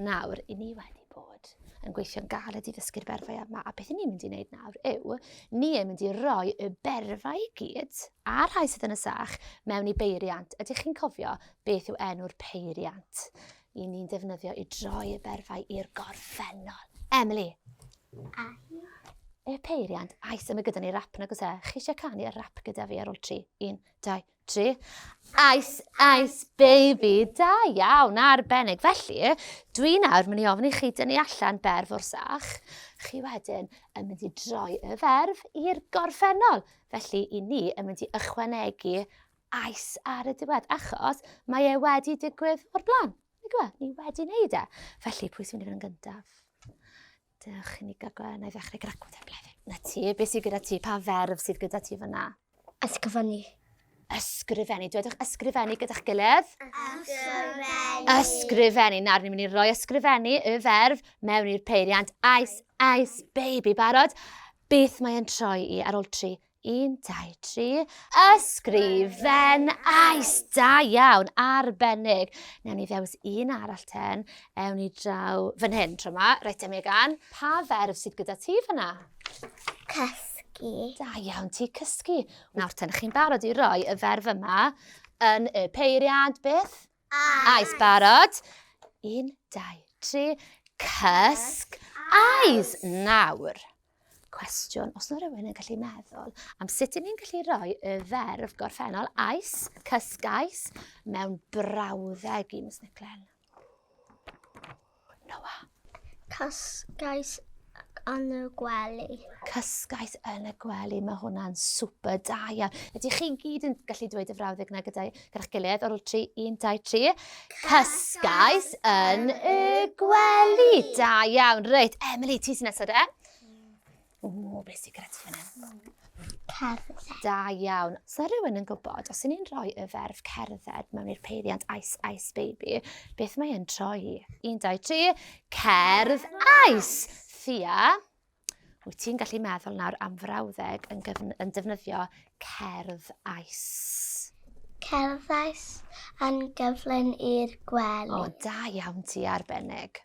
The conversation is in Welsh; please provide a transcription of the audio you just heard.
Nawr, i ni wedi bod yn gweithio'n galed i ddysgu'r berfau yma, a beth i ni'n mynd i wneud nawr yw, ni yn mynd i roi y berfau i gyd, a rhai sydd yn y sach, mewn i beiriant. Ydych chi'n cofio beth yw enw'r peiriant? I ni'n defnyddio i droi y berfau i'r gorffennol. Emily? Ahi. Y peiriant, aes, yma gyda ni rap nag oes e. Chi eisiau canu y rap gyda fi ar ôl tri? Un, dau, tri. Ice, ice, baby, da iawn, arbennig. Felly, dwi nawr mynd i ofyn i chi dynnu allan berf o'r sach. Chi wedyn yn mynd i droi y ferf i'r gorffennol. Felly, i ni yn mynd i ychwanegu ice ar y diwedd, achos mae e wedi digwydd o'r blaen. Ni wedi wneud e. Felly, pwy sy'n mynd i fod yn gyntaf? Dewch i ni gael gweld, na i ddechrau gyda gwrdd blefyn. Na ti, beth sydd gyda ti? Pa ferf sydd gyda ti fyna? Ysgrifennu. Ysgrifennu. Dwedwch ysgrifennu gyda'ch gilydd. Ysgrifennu. Ysgrifennu. Nawr, ni'n mynd i roi ysgrifennu y ferf mewn i'r peiriant. Ice, ice, baby, barod. Beth mae'n troi i ar ôl tri? Un, dau, tri. Ysgrifen ais! Da iawn, arbennig. Newn ni ddewis un arall ten. Ewn ni draw fan hyn tro yma. Reit, Megan, pa ferf sydd gyda ti fyna? Cysgu. Da iawn ti, cysgu. Nawr ten, chi'n barod i roi y ferf yma yn y peiriant beth? Ais, barod. Un, dau, tri. Cysg, ais, nawr. Cwestiwn, os yna rhywun yn gallu meddwl am sut i ni'n gallu rhoi y ferf gorffennol ais, cysgais, mewn brawddeg i Miss Niclen. Noa. Cysgais yn y gwely. Cysgais yn y gwely, mae hwnna'n super da iawn. Ydych chi gyd yn gallu dweud y frawddeg yna gyda'i gyda'ch gilydd o'r ôl tri, un, dau, tri. Cysgais yn y gwely. Da iawn, reit. Emily, ti sy'n nesod e? Ww, beth sy'n gyda ti fan hyn? Cerdded. Da iawn. Sa rhywun yn gwybod, os ni'n rhoi y ferf cerdded mewn i'r peiriant Ice Ice Baby, beth mae e'n troi? 1, 2, 3, cerdd ice! Thea, wyt ti'n gallu meddwl nawr am frawddeg yn, gyfn, yn defnyddio cerdd ice? Cerdd ice yn gyflyn i'r gwely. O, da iawn ti arbennig.